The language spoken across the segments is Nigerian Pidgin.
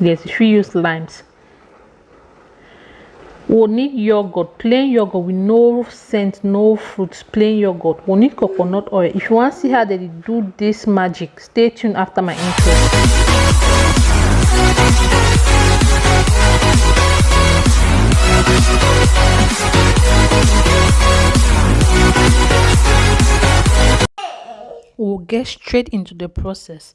yes you fit use limes we need yogurt plain yogurt with no scent no fruit plain yogurt we need coconut oil if you want to see how they do this magic stay tuned after my intro we'll get straight into the process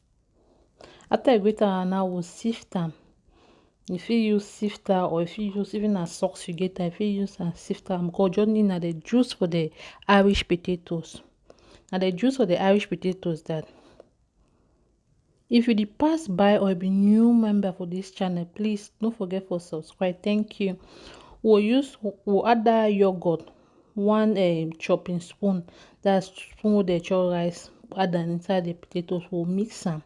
After you grate am now you go sift am, you fit use sifter or you fit use even na socks you get am you fit use am sift am because you just need na the juice for the Irish potatoes. Na the juice for the Irish potatoes that if you dey pass by or you be new member for this channel please no forget for subscribe thank you. We we'll use we we'll add that yogurt one um chopping spoon that spoon wey dem chop rice add am inside the potatoes we go mix am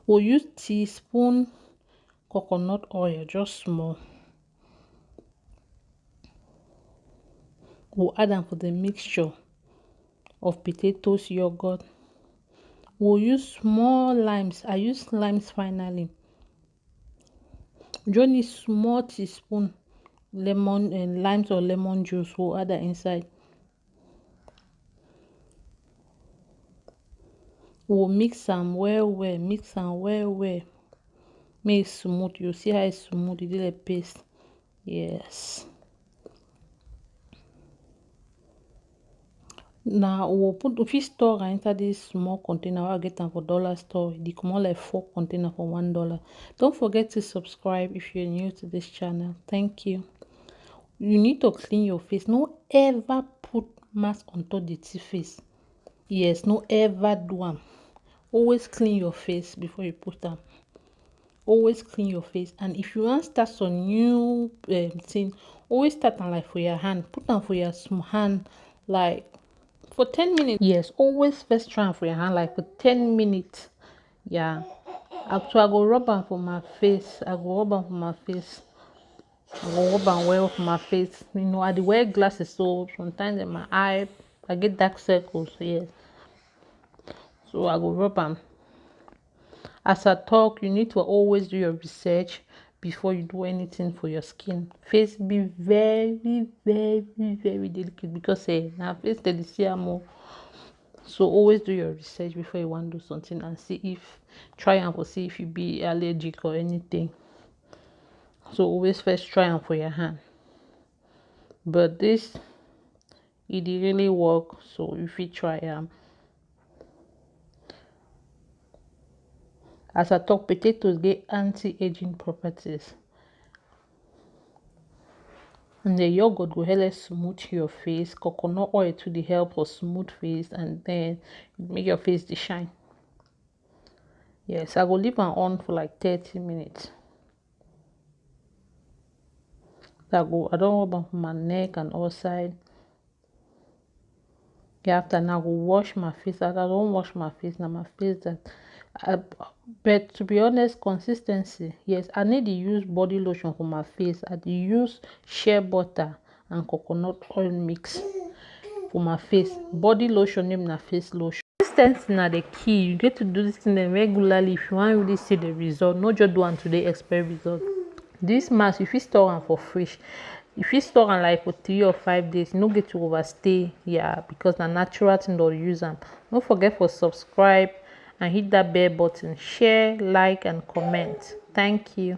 we go use teaspoon coconut oil just small we go add am for the mixture of potatoes yoghurt we go use small limes I use limes finally you just need small teaspoon lemon and lime or lemon juice go add am inside we go mix am well well mix am well well make e smooth you go see how e smooth e be like paste yes. na we go put we fit store am inside this small container wey I get am for dollar store e dey comot like four container for one dollar don't forget to subscribe if you're new to this channel thank you you need to clean your face no ever put mask on top dirty face yes no ever do am always clean your face before you put am always clean your face and if you wan start some new um, thing always start am like for your hand put am for your hand like for 10 minutes yes always first try am for your hand like for 10 minutes yeah so i go rub am for my face i go rub am for my face i go rub am well for my face you know i dey wear glasses so sometimes in my eye i get dark circles yes so i go rub am as I talk you need to always do your research before you do anything for your skin face be very very very delicate because eh na face dem dey see am o so always do your research before you wan do something and see if try am for see if you be allergic or anything so always first try am for your hand but this e dey really work so you fit try am. As I talk potatoes get anti-aging properties and the yogurt go help smooth your face, coconut oil to the help for smooth face and then make your face dey shine. Yes, I go leave am on for like thirty minutes. I go I don rub am for my neck and all side. Yeah, after now I go wash my face. As I don wash my face, now my face that I, but to be honest, consistency. Yes, I need to use body lotion for my face. I use shea butter. and coconut oil mix for my face body lotion name na face lotion consistency na the key you get to do this thing dem regularly if you wan really see the result no just do am today expect result this mask you fit store am for fridge you fit store am like for three or five days no get to overstay yeah because na natural thing don use am no forget for subscribe and hit that bell button share like and comment thank you